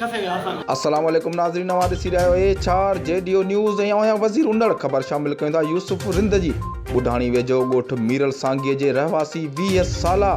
السلام عليڪم ناظرين اوهان ڏسي رهيا آهيو H R G D O news ۽ اوهان وزير اوندڙ خبر شامل ڪيون ٿا يوسف رند جي ٻڍاڻي ويجهو ڳوٺ ميرل سانگيء جي رهواسي ويهه سالا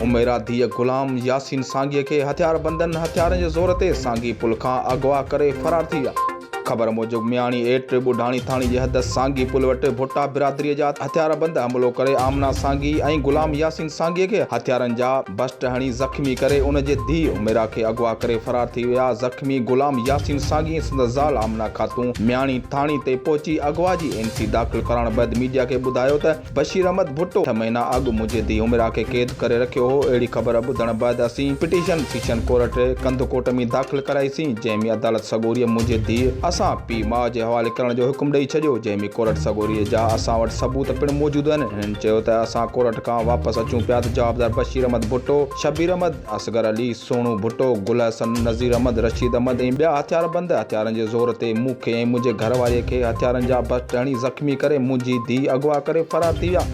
عميرا ڌيء غلام ياسين سانگيء کي هٿياربندن هٿيارن جي زور تي سانگي پل کان اغوا ڪري فرار ٿي ويا خبر موجب مياڻي ايٽ ٻڍاڻي ٿاڻي جي حد سانگي پل وٽ ڀٽا برادري جا هٿياربند حملو ڪري آمنا سانگي ۽ غلام ياسين سانگي کي هٿيارن جا بسٽ هڻي زخمي ڪري ان جي ڌيء عميرا کي اغوا ڪري فرار ٿي ويا زخمي غلام ياسين سانگي ۽ سندس زال آمنا خاتون مياڻي ٿاڻي تي پهچي اغوا جي اين سي داخل ڪرائڻ بعد ميڊيا کي ٻڌايو ته بشير احمد ڀٽو ڇهه مهينا اڳ منهنجي ڌيء عمرا کي قيد ڪري رکيو هو، اهڙي خبر ٻڌڻ بعد اسين پٽيشن سيشن ڪورٽ ري ڪنڌڪوٽ ۾ داخل ڪرائي سين، جنهن ۾ عدالت سڳوريء منهنجي ڌيء اسان پيء ماء جي حوالي ڪرڻ جو حڪم ڏئي ڇڏيو، جنهن ۾ ڪورٽ سڳوريء جا اسان وٽ ثبوت پڻ موجود آهن، هنن چيو ته اسان ڪورٽ کان واپس اچون پيا ته جوابدار بشير احمد ڀٽو، شبير احمد. اصغر علي، سهڻو ڀٽو، گل حسن، نظير احمد، رشيد احمد ۽ ٻيا هٿياربند هٿيارن جي زور تي مون کي ۽ منهنجي گهر واريء کي هٿيارن جا بسٽ هڻي زخمي ڪري منهنجي ڌيء اغوا ڪري فرار ٿي ويا.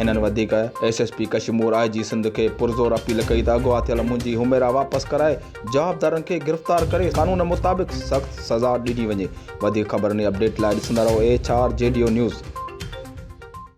هنن وڌيڪ S S P Kashmore I G Sindh کي پرزور اپيل ڪئي ته اغوا ٿيل منهنجي حميرا واپس ڪرائي جوابدارن کي گرفتار ڪري قانون مطابق سخت سزا ڏني وڃي. وڌيڪ خبرن ۽ اپڊيٽ لاء ڏسندا رهو H R G D O news.